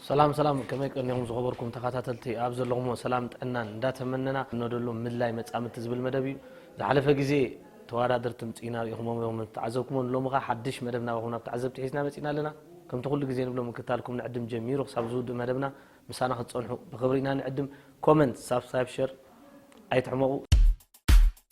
ሰላም ሰላም ከመይ ቀኒኹም ዝኸበርኩም ተኸታተልቲ ኣብ ዘለኹምዎ ሰላም ጥዕናን እንዳተመነና እነደሉ ምድላይ መፃምድቲ ዝብል መደብ እዩ ዝሓለፈ ግዜ ተወዳደርቲ ምፅኢና ርኢኹሞም እዮም ተዓዘብኩሞ ሎሚ ኸ ሓድሽ መደብ ናባኹም ናብ ተዓዘብቲ ሒዝና መፂና ኣለና ከምቲ ኩሉ ግዜ ንብሎ ምክታልኩም ንዕድም ጀሚሩ ክሳብ ዝውድእ መደብና ምሳና ክትፀንሑ ብክብሪ ኢና ንዕድም ኮመንት ሳብስክራይብ ሸር ኣይትሕመቑ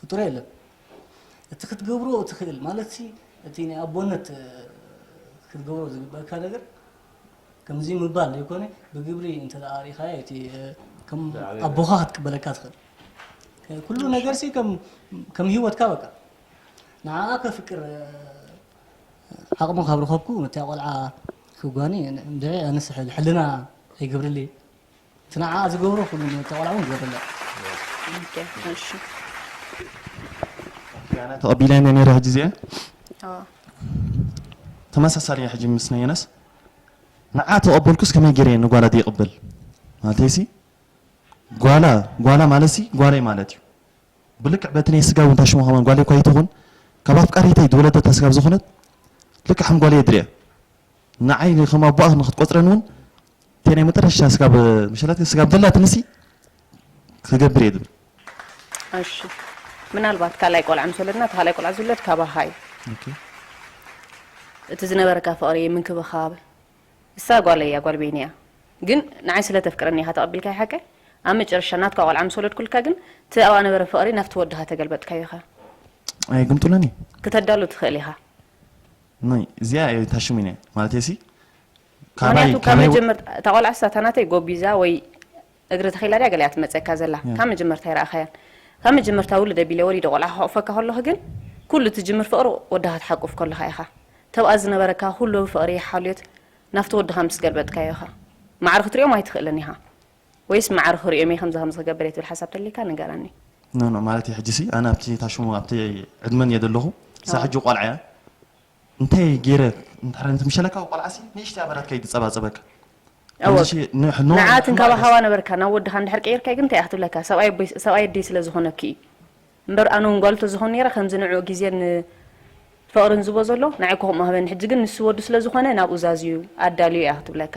ፍጡር የለን እቲ ክትገብሮ እትኽእል ማለትሲ እቲ ናይ ኣቦነት ክትገብሮ ዝግበእካ ነገር ከምዚ ምባል ዘይኮነ ብግብሪ እንተ ኣርኢኻዮ እቲ ከም ኣቦኻ ክትቅበለካ ትኽእል ኩሉ ነገርሲ ከም ሂወትካ በቃ ንዓኣ ከፍቅር ዓቕሚ ካብ ረኸብኩ ነታ ቆልዓ ክጓኒ እንድዒ ኣነስ ሕልና ኣይገብርልይ እቲ ንዓኣ ዝገብሮ ኩሉ ንእታ ቆልዓ እውን ዘድለ። ኣነ ተቐቢለንያ ነይረ ሕጂ እዚኣ ተመሳሳሊ እያ ሕጂ ምስ ናይ የነስ ንዓ ተቐበልኩስ ከመይ ገይረ እየ ንጓላ ዘይቕበል ማለተይሲ ጓላ ጓላ ማለትሲ ጓለይ ማለት እዩ ብልክዕ በቲ ናይ ስጋ እውን ታሽሙ ከማን ጓለይ እኳ ይትኹን ካብ ኣፍቃሪተይ ዝወለደታ ስጋብ ዝኾነት ልክዕ ከም ጓለይ የድርያ ንዓይ ንከም ኣቦኣ ንክትቆጽረኒ ውን እተይ ናይ መጠረሻ ስጋብ መሸላትኪ ስጋብ ደላትኒ ሲ ክገብር እየ ዝብል። እሺ ምናልባት ካልኣይ ቆልዓ ምስ ወለድና እቲ ካልኣይ ቆልዓ ዝውለድ ካባኻ እዩ። ኦኬ እቲ ዝነበረካ ፍቕሪ ምንክብኻብ እሳ ጓለይ እያ ጓል ቤኒ እያ ግን ንዓይ ስለ ተፍቅረኒ ኢኻ ተቐቢልካያ ሓቀይ ኣብ መጨረሻ ናትካ ቆልዓ ምስ ወለድኩልካ ግን እቲ ኣብኣ ነበረ ፍቕሪ ናብቲ ወድኻ ተገልበጥካዮ ኢኻ ኣይግምጡለኒ። ክተዳሉ ትኽእል ኢኻ ኖይ እዚኣ እየ እታ ሽሚነ ማለተይሲ ካባይ ምክንያቱ ካብ ካባይ ወ- መጀመርታ እታ ቆልዓ ስታ እታ ናተይ ጎቢዛ ወይ እግሪ ተኺላ ድያ ገለ እያ ትመፀካ ዘላ ካብ መጀመርታ ኣይረኣኻያን ካብ መጀመርታ ውልድ ኣቢለ ወሊደ ቆልዓ ክሕቑፈካ ከለኹ ግን ኩሉ ትጅምር ፍቕሪ ወድኻ ትሓቁፍ ከለኻ ኢኻ ተብኣ ዝነበረካ ኩሉ ፍቕሪ ሓልዮት ናፍቲ ወድኻ ምስ ገልበጥካዮ ኢኻ ማዕረ ክትሪኦም ኣይትኽእልን ኢኻ ወይስ ማዕረ ክሪኦም እየ ከምዚ ከምዚ ክገብር እየ ትብል ሓሳብ ተልይካ ንገረኒ። ኖ ኖ ማለተይ ሕጂሲ ኣነ ኣብቲ እታ ሽሙ ኣብቲ ዕድመን እየ ዘለኹ እሳ ሕጂ ቆልዓ እያ እንታይ ጌረ እንድሕር ነቲ ምሸለካ ቆልዓሲ ንእሽተይ ኣበላት ከይትጸባጸበካ ከምዚ ሺ ንሕ ኖ ንዓ ትንከባኸባ ነበርካ ናብ ወድኻ እንድሕር ቀይርካዮ ግን እንታይ እያ ክትብለካ ሰብኣይ ኣቦይ ሰብኣይ ኣደይ ስለ ዝኾነኪ እዩ እምበር ኣነ እውን ጓሉ ተዝኾን ነይረ ከምዚ ንዕኡ ግዜን ፍቕርን ዝቦ ዘሎ ንዓይ እኮ ከምኡ ሃበኒ ሕጂ ግን ንሱ ወዱ ስለ ዝኾነ ናብኡ ዛዝዩ ኣዳልዮ እያ ክትብለካ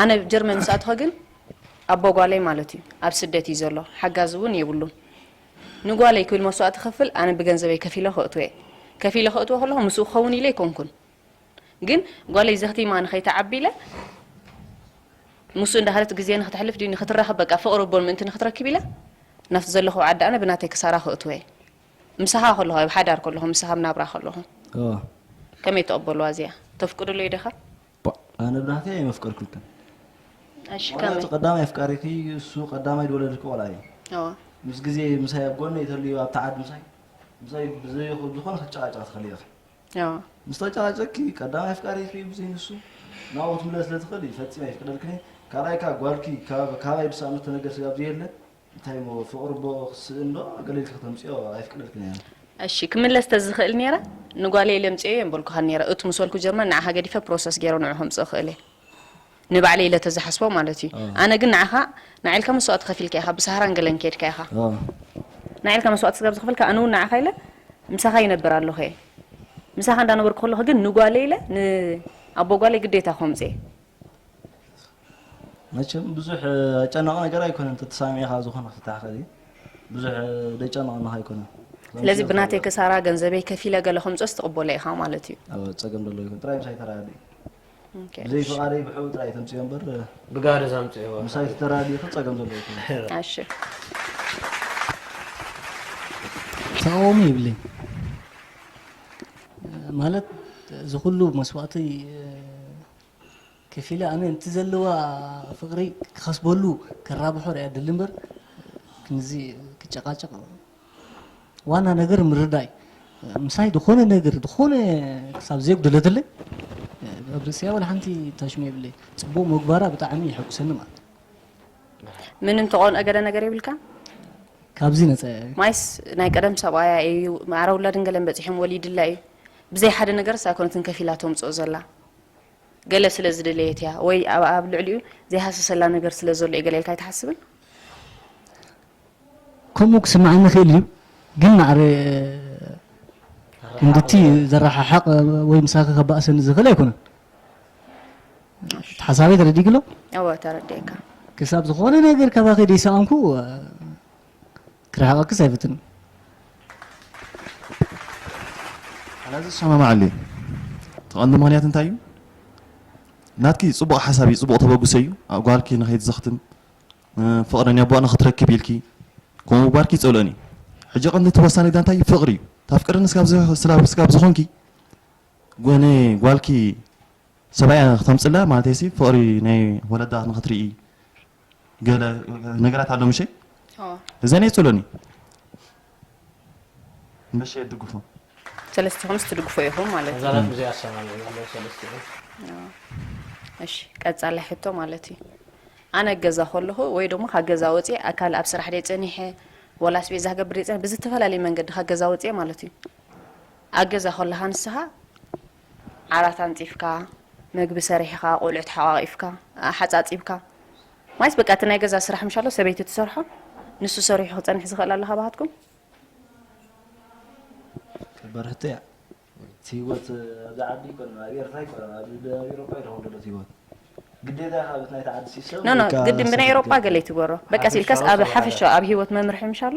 ኣነ ጀርመን ምስ ኣተኹ ግን ኣቦ ጓለይ ማለት እዩ ኣብ ስደት እዩ ዘሎ ሓጋዚ እውን የብሉን ንጓለይ ክብል መስዋእቲ ክኽፍል ኣነ ብገንዘበይ ከፊለ ከእትዎ እየ ከፊለ ከእትዎ ከለኹ ምስኡ ክኸውን ኢለ ኣይኮንኩን ግን ጓለይ ዘኽቲማ ንኸይትዓቢ ኢለ ምስኡ እንዳኸደት ግዜ ንክትሕልፍ ድዩ ንክትራኸብ በቃ ፍቕሪ ኣቦን ምእንቲ ንክትረክብ ኢለ ናብቲ ዘለኹ ዓዲ ኣነ ብናተይ ክሳራ ከእትዎ እየ ምሳኻ ከለኹ ኣብ ሓዳር ከለኹ ምሳኻ ኣብ ናብራ ከለኹ ከመይ ተቐበልዋ እዚኣ ተፍቅድሉ እየ ደኻ ቧእ ኣነ ብናተይ ኣየመፍቀርኩልክን እሺ ዋላ እቲ ከመይ ቀዳማይ ኣፍቃሪኪ እሱ ቀዳማይ ዝወለድኪ ቆልዓ እዩ እወ ምስ ግዜ ምሳይ ኣብ ጎነይ ተልዩ ኣብቲ ዓዲ ምሳይ ምሳይ ብዘይ ብዝኾነ ክትጨቃጨቂ ትኽእሊ ኢኺ እወ ምስ ተጨቃጨቅኪ ቀዳማይ ኣፍቃሪኪ ብዘይ ንሱ ናብኡ ክትምለሲ ስለ ትኽእሊ ፈጺመ ኣይፍቅደልክን እየ ካልኣይ ከኣ ጓልኪ ካብ ካባይ ብሳእኑ ዝተነገር ስጋብ ዘየለ እንታይ እሞ ፍቅሪ እቦ ክትስእን ዶ ኣገሊልኪ ክተምጽዮ ኣይፍቅደልክን እየ። እሺ ክምለስ ተዝኽእል ኔረ ንጓለይ ለምጽየዮ የምበልኩኻን ኔረ እቱ ምስ በልኩ ጀርመን ንዓኻ ገዲፈ ፕሮሰስ ጌረ ንዑ ከምጽእ እኽእል እየ ንባዕለይ ኢለ ተዝሓስቦ ማለት እዩ ኣነ ግን ንዓኻ ንዓ ኢልካ መስዋእቲ ከፊልካ ኢኻ ብሳህራን ገለን ኬድካ ኢኻ ንዓ ኢልካ መስዋእቲ ስጋብ ዝኽፈልካ ኣነ ውን ንዓኻ ኢለ ምሳኻ ይነብር ኣለኹ እየ ምሳኻ እንዳነበርኩ ከለኹ ግን ንጓለይ ኢለ ን ኣቦ ጓለይ ግዴታ ኮምጽየ መቸም ብዙሕ ኣጨናቂ ነገር ኣይኮነን ተተሳሚዕኻ ዝኾነ ፍታሕ ከዚ ብዙሕ ደጨናቅናኻ ኣይኮነን ስለዚ ብናተይ ከሳራ ገንዘበይ ከፊለ ገለ ከምፆስ ትቕበሎ ኢኻ ማለት እዩ ኣብ ፀገም ደሎ ይኹን ጥራይ ምሳይ ተራዲ ብዘይ ፍቓደይ ብሕኡ ጥራይ ተምፅዮ እምበር ብጋደ ዛምፅዮ ምሳይ ተተራዲኹ ፀገም ዘሎ ይኹን እሺ ተቃውሞ ይብለይ ማለት እዚ ኩሉ መስዋእቲ ከፊለ ኣነ ነቲ ዘለዋ ፍቅሪ ክከስበሉ ከራብሖ ሪኣ ድሊ እምበር ክንዚ ክጨቃጨቅ ዋና ነገር ምርዳይ ምሳይ ዝኾነ ነገር ዝኾነ ክሳብ ዘየጉደለትለይ ኣብ ርእሲያ ወላ ሓንቲ ታሽሙ የብለይ ጽቡቅ ምግባራ ብጣዕሚ ይሕጉሰኒ ማለት ምንም ተቆንኦ ገለ ነገር የብልካ ካብዚ ነፃ ማይስ ናይ ቀደም ሰብኣያ እዩ ማዕረ ውላድን ገለን በፂሖም ወሊድላ እዩ ብዘይ ሓደ ነገርስ ኣይኮነትን ከፊላ ተምፅኦ ዘላ ገለ ስለ ዝደለየት እያ ወይ ኣብኣ ኣብ ልዕሊኡ ዘይሃሰሰላ ነገር ስለ ዘሎ እዩ ገለ ኢልካ ኣይትሓስብን? ከምኡ ክስምዓኒ ይኽእል እዩ ግን ማዕረ ክንድቲ ዘረሓሕቕ ወይ ምሳኺ ከባእሰኒ ዝኽእል ኣይኮነን። እቲ ሓሳበይ ተረዲእኪ ዶ? እወ ተረዲኤካ። ክሳብ ዝኾነ ነገር ካባኺ ደይሰኣንኩ ክርሕቐክስ ኣይፍትንን። ኣነ ዝሰማማዓሉ እዩ እቲ ቀንዲ ምክንያት እንታይ እዩ ናትኪ ፅቡቅ ሓሳብ እዩ ፅቡቅ ተበግሶ እዩ ጓልኪ ንከይትዘክትም ፍቅረኛ ኣቦኣ ንክትረክብ ኢልኪ ከምኡ ምግባርኪ ይፀልኦን እዩ ሕጂ ቀንዲ እቲ ወሳኒ ግዳ እንታይ እዩ ፍቅሪ እዩ ታፍቅርኒ ስጋብ ዝኮንኪ ጎነ ጓልኪ ሰብኣያ ክተምፅላ ማለተይሲ ፍቅሪ ናይ ወለዳ ንክትርኢ ገለ ነገራት ኣሎ ምሸ እዘን የጽሉኒ ምሸ የድግፎ ሰለስቲኹምስ ትድግፎ ኢኹም ማለት እዩ ዛላት ብዘይ ኣሰማሚ ኣለዉ ሰለስቲኹም እሺ ቀጻላይ ሕቶ ማለት እዩ ኣነ ገዛ ከለኹ ወይ ደሞ ካብ ገዛ ወፅየ ኣካል ኣብ ስራሕ ደይ ፀኒሐ ወላ ስቤዛ ክገብር ደይ ፀኒሐ ብዝተፈላለየ መንገዲ ካብ ገዛ ወፅየ ማለት እዩ ኣብ ገዛ ከለኻ ንስኻ ዓራት ኣንጺፍካ፣ መግቢ ሰሪሕኻ፣ ቆልዑ ተሓቛቒፍካ፣ ኣሓጻጺብካ፣ ማይስ በቃ እቲ ናይ ገዛ ስራሕ ምሻሎ ሰበይቲ ትሰርሖ፣ ንሱ ሰሪሑ ክጸንሕ ዝኽእል ኣሎ ካባኻትኩም? በርህቶ እያ እቲ ሂወት ኣብዚ ዓዲ ኣይኮነን ኣብ ኤርትራ ኣይኮነን ኣብ ኤውሮጳ እዩ ዝኸውን ዘሎ እቲ ሂወት ግዴታ ኢኻ በቲ ናይቲ ዓዲ ሲስተም ኖ ኖ ግድን ብናይ ኤውሮጳ ገለ ይትግበሮ በቃ ሲልካስ ኣብ ሓፈሻዊ ኣብ ሂወት መምርሒ ምሻሎ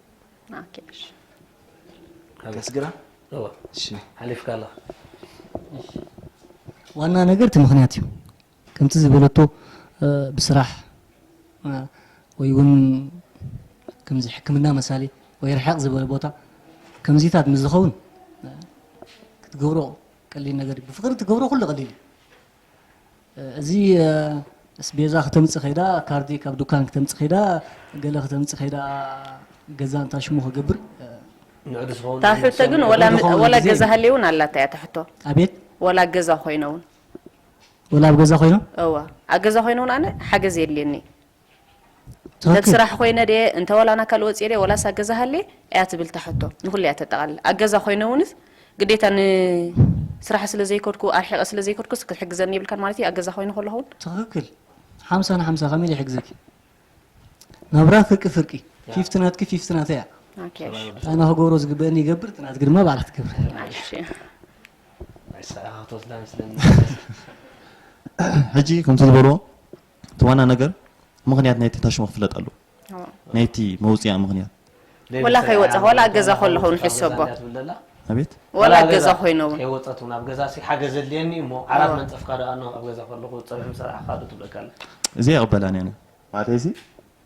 ኦኬ እሺ ኣመስግና እዋ እሺ ሓሊፍካ ኣለኻ ዋና ነገር እቲ ምክንያት እዩ ከምቲ ዝበለቶ ብስራሕ ወይ እውን ከምዚ ሕክምና መሳሊ ወይ ርሕቕ ዝበለ ቦታ ከምዚታት ምስ ዝኸውን ክትገብሮ ቀሊል ነገር እዩ ብፍቅሪ ትገብሮ ኩሉ ቀሊል እዩ እዚ እስቤዛ ክተምጽእ ከይዳ ካርዲ ካብ ዱካን ክተምጽእ ከይዳ ገለ ክተምጽእ ከይዳ ገዛ እንታይ ሽሙ ክገብር ንዑ ዝኸውን እታ ሕቶ ግን ወላ ንዑ ዝኸውን ወላ ግዜ ገዛ እዩ። ሃልየውን ኣላታ እያ እታ ሕቶ ኣቤት ወላ ገዛ ኮይነ እውን ወላ ኣብ ገዛ ኮይኖም እዋ ኣብ ገዛ ኮይነ እውን ኣነ ሓገዝ የድልየኒ ሰብ ስራሕ ኮይነ ድየ እንተ ወላ ናካል ወጽየ ድየ ወላስ ኣብ ገዛ ሃልየ ኣያ ትብል እታ ሕቶ ንኩሉ እያ ተጠቃልል ኣብ ገዛ ኮይነ እውንስ ግዴታ ን ስራሕ ስለ ዘይከድኩ ኣርሒቀ ስለ ዘይከድኩስ ክትሕግዘኒ የብልካን ማለት እዩ ኣብ ገዛ ኮይነ ከለኩ ውን ትክክል ሓምሳ ን ሓምሳ ከመይ ኢለ ይሕግዘኪ ናብራ ፍርቂ ፍርቂ ፊፍቲ ናትኪ ፊፍቲ ናተይ እያ ኦኬ እሺ እንታይ እና ክገብሮ ዝግበእኒ ይገብር እቲ ናትኪ ድማ ባዕላ ክትገብር እሺ ናይ ስራሕ ክትወስዳ መስለኒ ሕጂ ከምቲ ዝበልዎ እቲ ዋና ነገር ምኽንያት ናይቲ ታሽሞ ክፍለጥ ኣለዎ ናይቲ መውጽኣ ምኽንያት። ወላ ከይወጻኹ ወላ ኣብ ገዛ ከለኹ ውን ሕሰቦ ሌላ ስራሕ እያ ትብለና። ኣቤት። ወላ ኣብ ገዛ ኮይነ ውን። ከይወጸት ውን ኣብ ገዛሲ ሓገዝ ዘድልየኒ እዩ እሞ ዓራት መንጸፍካ ዶ ኣኖ ኣብ ገዛ ከለኹ ጸብሒ ምስ ሰራሕካ ዶ ትብለካ ኣላ። እዚኣ ኣይቕበላን እየ ኣነ። ማለተይሲ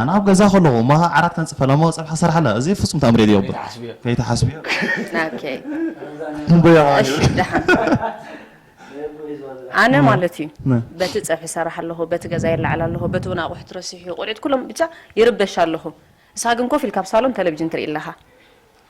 ኣነ ኣብ ገዛ ከለኩ እሞ ዓራት ከንጽፈላ እሞ ጸብሒ ክሰርሓላ እዚ ፍጹም ተኣምር እየ ዝገብር ከይትሓስብዮ ኦኬ ንበያ እሺ ደሓን ኣነ ማለት እዩ ነ- በቲ ፀብሒ ሰራሕ ኣለኹ በቲ ገዛ የላዕል ኣለኹ በቲ እውን ኣቑሑት ረሲሑ ቆልዑት ኩሎም ብቻ ይርበሽ ኣለኹ ንስኻ ግን ኮፍ ኢልካ ኣብ ሳሎን ቴሌቭዥን ትርኢ ኣለኻ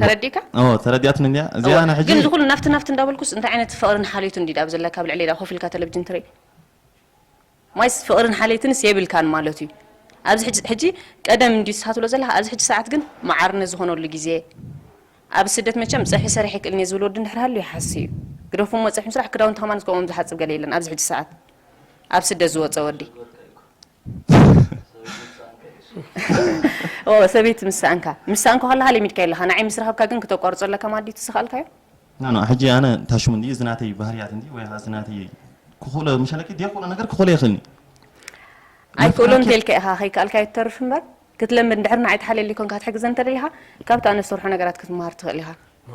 ተረዲእካ? ኣዎ ተረዲኣትኒ እንድያ እዚኣ ኣነ ሕጂ። ግን እዚ ኩሉ ናፍቲ ናፍቲ እንዳበልኩስ እንታይ ዓይነት ፍቕርን ሓልዮትን ድዩ ድኣ ኣብ ዘለካ ኣብ ልዕሊይ ድኣ ኮፍ ኢልካ ተለብጅን ትርኢ ዋይስ ፍቕርን ሓልየትንስ የብልካን ማለት እዩ ኣብዚ ሕጂ ሕጂ ቀደም እንድዩ ትስሓ ትብሎ ዘለካ ኣብዚ ሕጂ ሰዓት ግን መዓርነት ዝኾነሉ ግዜ ኣብ ስደት መቸም ጸብሒ ሰሪሐ ኣይክእልን እየ ዝብል ወዲ እንድሕር ሃልዩ ይሓሲ እዩ ግደፉ እሞ ጸብሒ ምስራሕ ክዳውንቲ ከማንስ ከምኦም ዝሓጽብ ገለ የለን ኣብዚ ሕጂ ሰዓት ኣብ ስደት ዝወጸ ወዲ ኦወ ሰበይቲ ምስ ሰኣንካ ምስ ሰኣንካ ከለካ ለሚድካዮ ኣለካ ንዓይ ምስ ረከብካ ግን ክተቋርጾ ኣለካ ማለት ድዩ እቲ ዝከኣልካዮ ናኖ ሕጂ ኣነ ታሽሙ እንዲ እዚ ናተይ ባህርያት እንዲ ወይ ከኣ እዚ ናተይ ክኽእሎ ምሸለኪ ደይክእሎ ነገር ክኽእሎ ይኽእልኒ ኣይክእሎን እንተልካ ኢኻ ከይከኣልካዮ ትተርፍ እምበር ክትለምድ እንድሕር ንዓይ ተሓልየለይ ኮንካ ክትሕግዘ እንተደሊኻ ካብቲ ኣነ ዝሰርሖ ነገራት ክትመሃር ትኽእል ኢኻ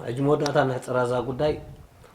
ሕጂ መወዳእታ ነሕጽራ እዛ ጉዳይ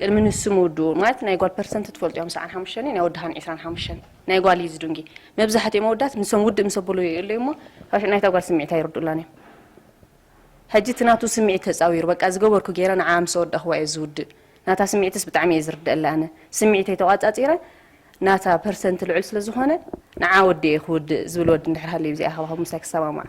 ቅድሚ ንሱ ምውድኡ ማለት ናይ ጓል ፐርሰንት ትፈልጡ እዮም ሰዓን ሓሙሽተን ናይ ወዲ ሃን ዕስራን ሓሙሽተን ናይ ጓል እዩ ዝዱንጊ መብዛሕትኦም ኣወዳት ንሶም ውድእ ምስ ኣብሉ ይእሉ እሞ ናይታ ጓል ስምዒት ኣይርድኡላን እዮም ሕጂ እቲ ናቱ ስምዒት ተጻዊሩ በቃ ዝገበርኩ ገይረ ንዓ ምስ ኣወዳእኽዋ እዩ ዝውድእ ናታ ስምዒትስ ብጣዕሚ እየ ዝርደኣላ ኣነ ስምዒተይ ተቋጻጺረ ናታ ፐርሰንት ልዑል ስለ ዝኾነ ንዓ ወዲኤ ክውድእ ዝብል ወዲ እንድሕር ሃልዩ ብዚኣ ከባኹ ምሳይ ክሰማማዕ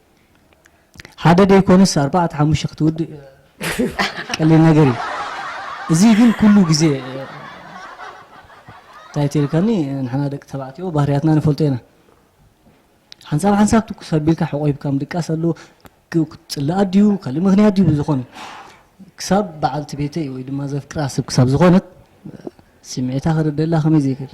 ሓደ ደይኮነስ ኣርባዕተ ሓሙሽተ ክትውድእ ቀሊል ነገር እዩ እዚ ግን ኩሉ ግዜ እንታይ ትልካኒ ንሕና ደቂ ተባዕትዮ ባህርያትና ንፈልጦ ኢና ሓንሳብ ሓንሳብ ትኩስ ኣቢልካ ሕቆይብካ ምድቃስ ኣሎ ፅላኣት ድዩ ካልእ ምክንያት ድዩ ብዝኾነ ክሳብ በዓልቲ ቤተይ ወይ ድማ ዘፍቅራ ሰብ ክሳብ ዝኾነት ስምዒታ ክርደላ ከመይ ዘይክእል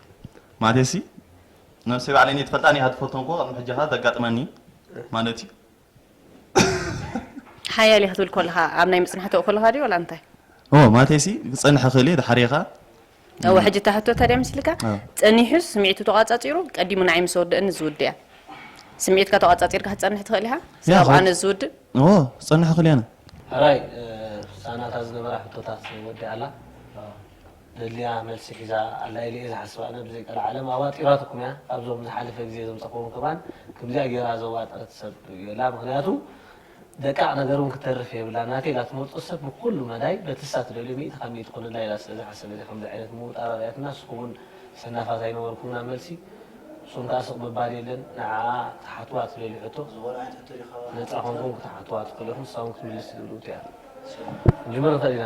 ማለትሲ ነብሰይ ባዕለይ እኔ ትፈልጣኒ እያ ትፈልጦም እኮ ቅድሚ ሕጂ ከ ዘጋጥመኒ ማለት እዩ ሓያል እየ ክትብል ኮለኻ ኣብ ናይ ምጽናሕ ተው ኮለኻ ድዩ ወላ እንታይ ኦ ማለትሲ ክጸንሕ እኽእል እየ ድሓር እየ ከኣ እወ ሕጂ እታ ሕቶ ታዲያ ምስልካ አዎ። ጸኒሑስ ስምዒቱ ተቋጻጺሩ ቀዲሙ ንዓይ ምስ ወደእኒ ዝውድ እያ ስምዒትካ ተቋጻጺርካ ክትጸንሕ ትኽእል ኢኻ ያ፣ ስጋብ ከ- ኣነ ዝውድእ ኦ ክጸንሕ እኽእል እየ ኣነ ሕራይ ሳናታ ዝነበራ ሕቶታት ወዲኣ ኣላ ዘድልያ መልሲ ሒዛ ኣላ ኢለ እየ ዝሓስብ ኣነ ብዘይ ቀልዓለም ኣዋጢራትኩም እያ ኣብዞም ዝሓለፈ ግዜ ዘምጸክዎም ከማን ክምዚኣ ጌራ ዘዋጠረት ሰብ የላ ምክንያቱ ደቃቅ ነገር ውን ክተርፍ የብላን ናተይ ኢላ ትመርጾ ሰብ ብኩሉ መዳይ በቲ እሳ ትደልዮ ሚእቲ ካብ ሚእቲ ኩንላ ኢላ ስለ ዝሓሰበት እያ ከምዚ ዓይነት ምውጣር ኣርእያትና ንስኩም ውን ሰናፋት ኣይነበርኩምናን መልሲ ንስኩም ከኣ ስቅ ምባል የለን ንዓኣ ክትሓትዋ ትደልዩ ሕቶ ነጻ ኮንኩም ክትሓትዋ ትክእሉ ኢኩም ንሳ ውን ክትምልስ ትድልውቲ እያ ክንጅምር ንክእል ኢና።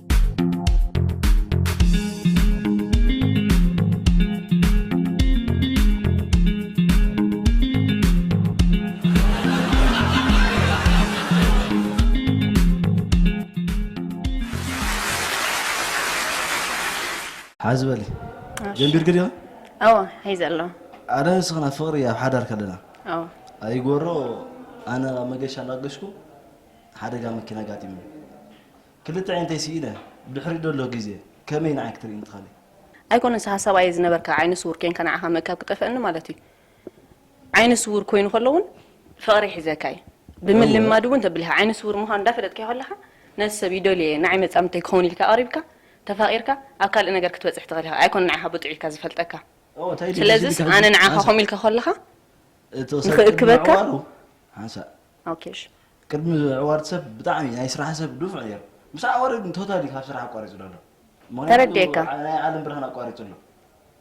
ሓዚ በሊ ጀንቢርክ ዲኻ ኣዎ ሒዘ ኣሎ ኣነ ንስኽና ፍቕሪ ኣብ ሓዳር ከለና ኣዎ ኣይጎሮ ኣነ መገሻ እናገሽኩ ሓደጋ መኪና ኣጋጢሙ ክልተ ኣዒንተይ ስኢነ ድሕሪኡ ደሎ ግዜ ከመይ ንዓይ ክትርእይኒ ትኽእሊ? ኣይኮነን ሰሃ ሰብኣየይ ዝነበርካ ዓይነ ስዉር ኴንካ ንዓኻ ምእካብ ክጠፍኣኒ ማለት እዩ ዓይነ ስዉር ኮይኑ ከሎ ውን ፍቕሪ ሒዘካ እዩ ብምልማድ ውን ተብልካ ዓይነ ስዉር ምዃኑ እንዳፈለጥካዮ ከለኻ ነዚ ሰብ ይደልዮ እየ ንዓይ መጻምድተይ ክኸውን ኢልካ ኣቕሪብካ ተፋቒርካ ኣብ ካልእ ነገር ክትበጽሕ ትኽእል ኢኻ ኣይኮነን ንዓኻ ብጡዕ ኢልካ ዝፈልጠካ ስለዝስ ኣነ ንዓኻ ከምኡ ኢልካ ከለኻ ንኽእክበካ ኦኬ እሺ። ቅድሚ ኣዋርድ ሰብ ብጣዕሚ ናይ ስራሕ ሰብ ድፉዕ ነይሩ ምስ ኣዋርድ ግን ቶታሊ ካብ ስራሕ ኣቋሪፅሉ ኣሎ ምክንያቱ ተረዲኤካ። ዓ- ናይ ዓለም ብርሃን ኣቋሪፁ ኣሎ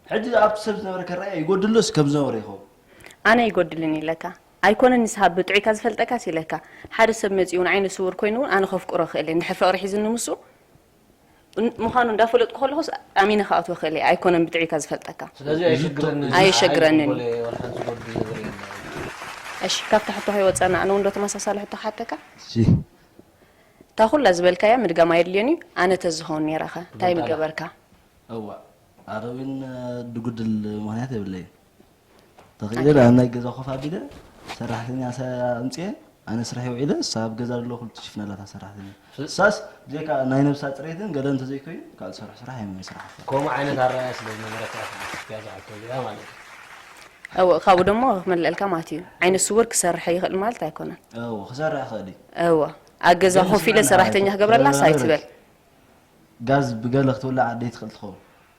ሕጂ ኣብቲ ሰብ ዝነበረ ከረኣየ ይጎድሎስ ከም ዝነበረ ይኸውን ኣነ ይጎድልን ኢለካ ኣይኮነን ንስካ ብጥዑይ ካብ ዝፈልጠካስ ኢለካ ሓደ ሰብ መፂኡ እውን ዓይነ ስውር ኮይኑ እውን ኣነ ከፍቅሮ ክእል እየ እንድሕር ፍቅሪ ሒዙኒ ምሱ ምዃኑ እንዳፈለጥኩ ከለኹስ ኣሚነ ክኣትዎ ክእል እየ ኣይኮነን ብጥዒታ ዝፈልጠካ ስለዚ ኣየሸግረንን ኣየሸግረንን እዩ ጎለ ወላ ሓንቲ ጎል ዝነገር የለን እሺ ካብታ ሕቶ ከይወፀና ኣነ እውን ዶ ተመሳሳሊ ሕቶ ክሓተካ እሺ እታ ኩላ ዝበልካያ ምድጋም ኣየድልዮን እዩ ኣነ ተዝኸውን ነይረ ከ እንታይ ምገበርካ እዋእ ኣረዊን ድጉድል ምክንያት የብለይን ተኽኢለ ኣብ ናይ ገዛ ኮፍ ኣቢለ ሰራሕተኛ ኣምፅኤ ኣነ ስርሐይ ውዒለ እሳ ኣብ ገዛ ዘሎ ኩሉ ትሽፍን ኣላታ ሰራሕተኛ እሳስ ብዘይካ ናይ ነብሳ ፅሬትን ገለ እንተዘይኮይኑ ካልእ ዝሰርሑ ስራሕ ኣይመን ስራሕ ከምኡ ዓይነት ኣረኣያ ስለ ዝነበረት እያ ዝሓቶ እዚኣ ማለት እዩ እወ ካብኡ ደሞ ክመልአልካ ማለት እዩ ዓይነ ስውር ክሰርሐ ይኽእል ማለት ኣይኮነን እወ ክሰርሕ ይኽእል እዩ እወ ኣብ ገዛ ኮፍ ኢለ ሰራሕተኛ ክገብረላስ ኣይትበል ጋዝ ብገለ ክትውላዕ ደይትኽእል ትኸውን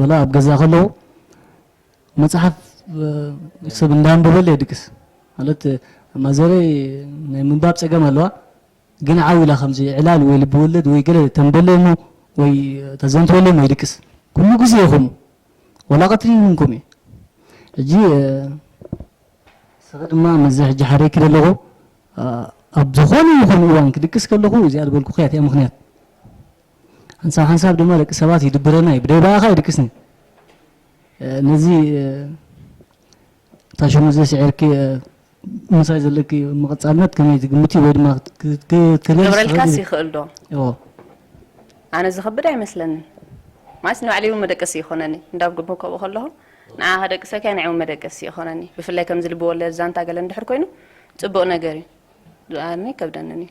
ወላ ኣብ ገዛ ከለዉ መጽሓፍ ሰብ እንዳንበበለ የድቅስ ማለት ማዘረይ ናይ ምንባብ ጸገም ኣለዋ ግን ዓው ኢላ ከምዚ ዕላል ወይ ልቢ ወለድ ወይ ገለ ተንበለይ እሞ ወይ ተዘንትወለይ እሞ ይድቅስ ኩሉ ግዜ ይኹም ወላ ቀትሪ ይኹንኩም እየ ሕጂ ስኺ ድማ ምስዚ ሕጂ ሓረይኪ ዘለኹ ኣብ ዝኾነ ይኹን እዋን ክድቅስ ከለኹ እዚኣ ዝበልኩኽያ እቲኣ ምኽንያት ሓንሳብ ሓንሳብ ድማ ደቂ ሰባት ይድብረና እዩ ብደይ በኣኻ ይድቅስኒ ነዚ እታ ሽሙ ዘስዒርኪ ምሳይ ዘለኪ ምቕፃልነት ከመይ ትግምቲ ወይ ድማ ክትገብረልካስ ይኽእል ዶ ኣነ ዝኸብድ ኣይመስለንን ማለት ንባዕለይ እውን መደቀሲ ይኾነኒ እንዳብ ግቦ ከብኡ ከለኹ ንዓ ከደቅሰካ ናይ እውን መደቀሲ ይኾነኒ ብፍላይ ከምዚ ልቢ ወለድ ዛንታ ገለ እንድሕር ኮይኑ ፅቡቕ ነገር እዩ ዝኣርኒ ከብደንን እዩ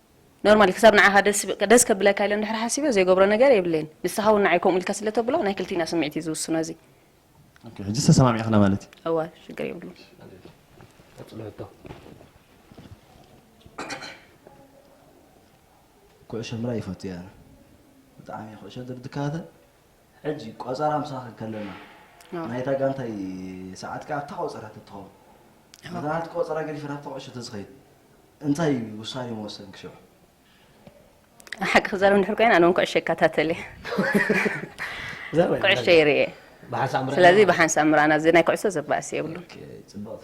ኖርማሊ ክሳብ ንዓኻ ደስ ከብለካ ኢለ እንድሕር ሓሲበ ዘይገብሮ ነገር የብለይን ንስኻ ውን ንዓይ ከምኡ ኢልካ ስለ ተብሎ ናይ ክልቲና ስምዒት እዩ ዝውስኖ እዚ። ኦኬ ሕጂስ ተሰማሚዕክና ማለት እዩ። እወ ሽግር የብሉን። ኩዕሾ ምርኣይ ይፈቱ እየ ኣነ ብጣዕሚ እየ ኩዕሾ እንተ ድካታተል ሕጂ ቆጸራ ምሳኺ ከለና ናይታ ጋንታይ ሰዓት ከኣ ኣብታ ቆጸራ ተትኸውን ነታ ናትኪ ቆጸራ ገዲፈ ናብታ ቁዕሾ ተዝኸይድ እንታይ እዩ ውሳኔ ምወሰንኪ ሽዑ? ሓቂ ክዛረብ እንድሕር ኮይነ ኣነ ውን ኩዕሾ ይከታተል እየ ኩዕሾ ይርእ እየ ስለዚ ብሓንሳብ ምራና እዚ ናይ ኩዕሶ ዘባእስ የብሉን። ጽብቕቲ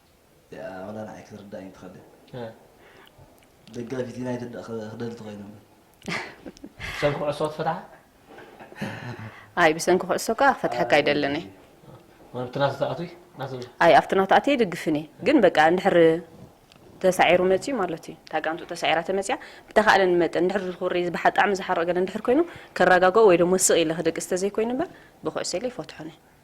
እያ ወላ ንዓይ ክትርዳእኒ ትኸል ደጋፊት ዩናይትድ ዳኣ ክደሊ ተኾይነ እምበር ብሰንኪ ኩዕሶ ትፈትሓ ኣይ ብሰንኪ ኩዕሶ ከኣ ክፈትሐካ ኣይደልን እየ ኣብቲ ናተ ተኣትዊ ኣይ ኣብቲ ናተ ኣትየ ይድግፍን እየ ግን በቃ እንድሕር ተሳዒሩ መፅዩ ማለት እዩ እታ ጋንቱ ተሳዒራ ተመፅያ ብተኻእለን መጠን እንድሕር ዝኹሪ ብጣዕሚ ዝሓርቕ ገለ እንድሕር ኮይኑ ከረጋገኦ ወይ ደሞ ስቕ ኢለ ክደቅስ ተዘይኮይኑ እምበር ብኩዕሶ ኢለ ይፈትሖን እየ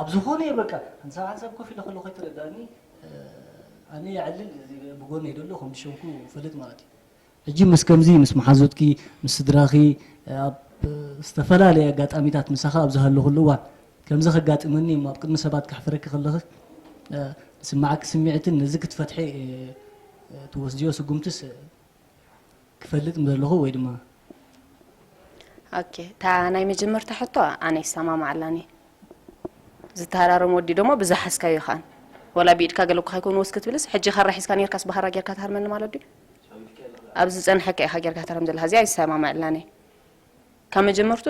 ኣብ ዝኾነ እየ በቃ ሓንሳብ ሓንሳብ ኮፍ ኢለ ከለኹ ኣይተረድኣኒ ኣነ የዕልል እዚ ብጎነይ ደሎ ከም ዝሸምኩ ፈልጥ ማለት እዩ ሕጂ ምስ ከምዚ ምስ መሓዙትኪ ምስ ስድራኺ ኣብ ዝተፈላለየ ኣጋጣሚታት ምሳኺ ኣብ ዝሃለኹሉ እዋን ከምዚ ከጋጥመኒ እሞ ኣብ ቅድሚ ሰባት ከሕፍረኪ ከለኺ ዝስምዓኪ ስምዒትን ነዚ ክትፈትሒ ትወስድዮ ስጉምትስ ክፈልጥ ምደለኹ ወይ ድማ። ኦኬ እታ ናይ መጀመርታ ሕቶ ኣነ ይሰማማዓላን እየ ዝተሃራረም ወዲ ደሞ ብዝሓዝካዮ ከኣን ወላ ብኢድካ ገለኩ ከይኮኑ ወስ ክትብልስ ሕጂ ካራ ሒዝካ ነርካስ ብሃራ ጌርካ ትሃርመኒ ማለት ድዩ ኣብ ዝጸንሐካ ኢኻ ጌርካ ትሃርም ዘለካ እዚኣ ይሰማማዓላን እየ ካብ መጀመርቱ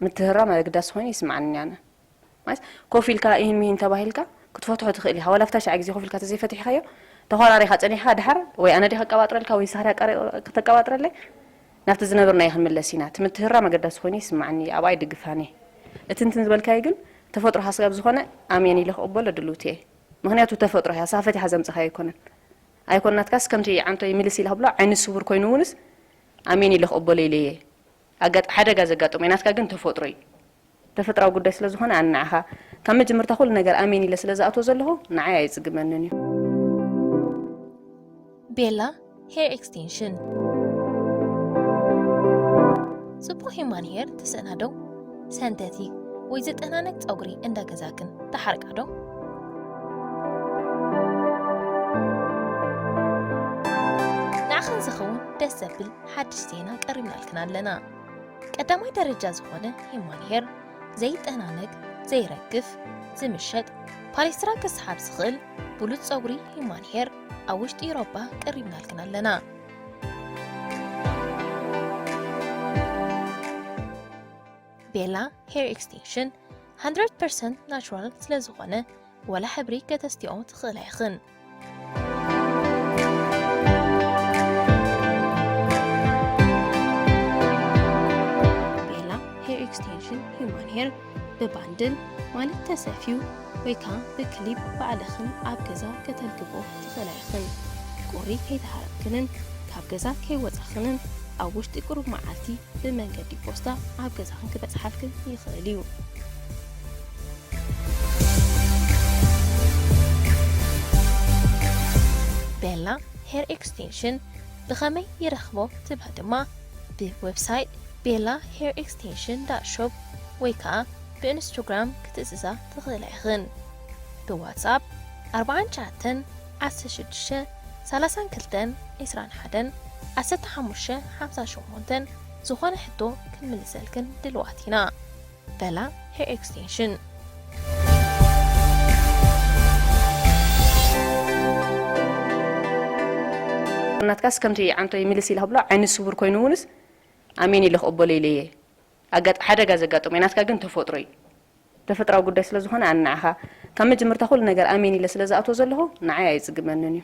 ምትህራም ኣገዳሲ ኮይኑ ይስምዓኒ ኣነ ማለት ኮፍ ኢልካ ኢሂን ምሂን ተባሂልካ ክትፈትሖ ትኽእል ኢኻ ዋላ ኣብታ ሽዓ ግዜ ኮፍ ኢልካ ተዘይፈቲሕካዮ ተኾራሪኻ ጸኒሕካ ድሓር ወይ ኣነ ድየ ከቀባጥረልካ ወይ ንስኻ ድያ ከተቀባጥረለይ ናብቲ ዝነበርናዮ ክንምለስ ኢና እቲ ምትህራም ኣገዳሲ ኮይኑ ይስምዓኒ ኣብኣ ይድግፋን እየ እቲ እንትን ዝበልካዮ ግን ተፈጥሮኻ ስጋብ ዝኾነ ኣሜን ኢለ ክቅበሎ ድልውቲ እየ ምኽንያቱ ተፈጥሮ እያ ንስኻ ፈቲሓ ዘምጸኻዮ ኣይኮነን ኣይኮን ናትካስ ከምቲ ዓንቶይ ምልስ ኢለ ክብሎ ዓይኒ ስውር ኮይኑ እውንስ ኣሜን ኢለ ክቅበሎ ኢለ እየ ኣጋጥ ሓደጋ ዘጋጥሞ ናትካ ግን ተፈጥሮ እዩ። ተፈጥራዊ ጉዳይ ስለ ዝኾነ ኣነ ንዓኻ ካብ መጀመርታ ኩሉ ነገር ኣሜን ኢለ ስለ ዝኣትዎ ዘለኹ ንዓይ ኣየጽግመንን እዩ። ቤላ ሄር ኤክስቴንሽን ጽቡቕ ሂማን ሄር ትስእና ዶ? ሰንተቲክ ወይ ዝጠናነክ ጸጉሪ እንዳ ገዛክን ትሓርቃ ዶ? ንዓኽን ዝኸውን ደስ ዘብል ሓድሽ ዜና ቀሪብናልክን ኣለና። ቀዳማይ ደረጃ ዝኾነ ሂማን ሄር ዘይጠናነግ፣ ዘይረግፍ፣ ዝምሸጥ ፓሌስትራ ክስሓብ ዝኽእል ብሉጽ ጸጉሪ ሂማን ሄር ኣብ ውሽጢ ኢሮባ ቀሪብናልክን ኣለና። ቤላ ሄር ኤክስቴንሽን 100% ናቹራል ስለዝኾነ ወላ ሕብሪ ከተስትዮ ትኽእላ ኢኽን። ቤላ ሄር ኤክስቴንሽን ሂዩማን ሄር ብባንድል ማለት ተሰፍዩ ወይ ከዓ ብክሊፕ ባዕልኽን ኣብ ገዛ ከተልግቦ ትኽእላ ኢኽን። ቁሪ ከይተሃረምክንን ካብ ገዛ ከይወፃኽንን ኣብ ውሽጢ ቁሩብ መዓልቲ ብመንገዲ ፖስታ ኣብ ገዛኽን ክበፅሓልክን ይኽእል እዩ። ቤላ ሄር ኤክስቴንሽን ብኸመይ ይረኽቦ ትብሉ ድማ ብ ዌብሳይት ቤላ ሄር ኤክስቴንሽን ዳት ሾፕ ወይ ከኣ ብ እንስቶግራም ክትእዝዛ ትኽእላ ኢኽን ብ ዋትስኣፕ ኣርብዓን ትሽዓተን ዓሰርተ ሽዱሽተ ሰላሳን ክልተን ዕስራን ሓደን ዓሰርተ ሓሙሽተ ሓምሳን ሸሞንተን ዝኾነ ሕቶ ክንምልሰልክን ድልዋት ኢና። በላ ሄር ኤክስቴንሽን። ናትካስ ከምቲ ዓንቶ ይምልስ ኢለ ክብሎ ዓይኒ ስውር ኮይኑ እውንስ ኣሜን ኢለ ክቕበሎ ኢለ እየ ኣጋጥ ሓደጋ ዘጋጠሞ ናትካ ግን ተፈጥሮ እዩ ተፈጥራዊ ጉዳይ ስለ ዝኾነ ኣነ ንዓኻ ካብ መጀመርታ ኩሉ ነገር ኣሜን ኢለ ስለ ዝኣትዎ ዘለኹ ንዓይ ኣይጽግመንን እዩ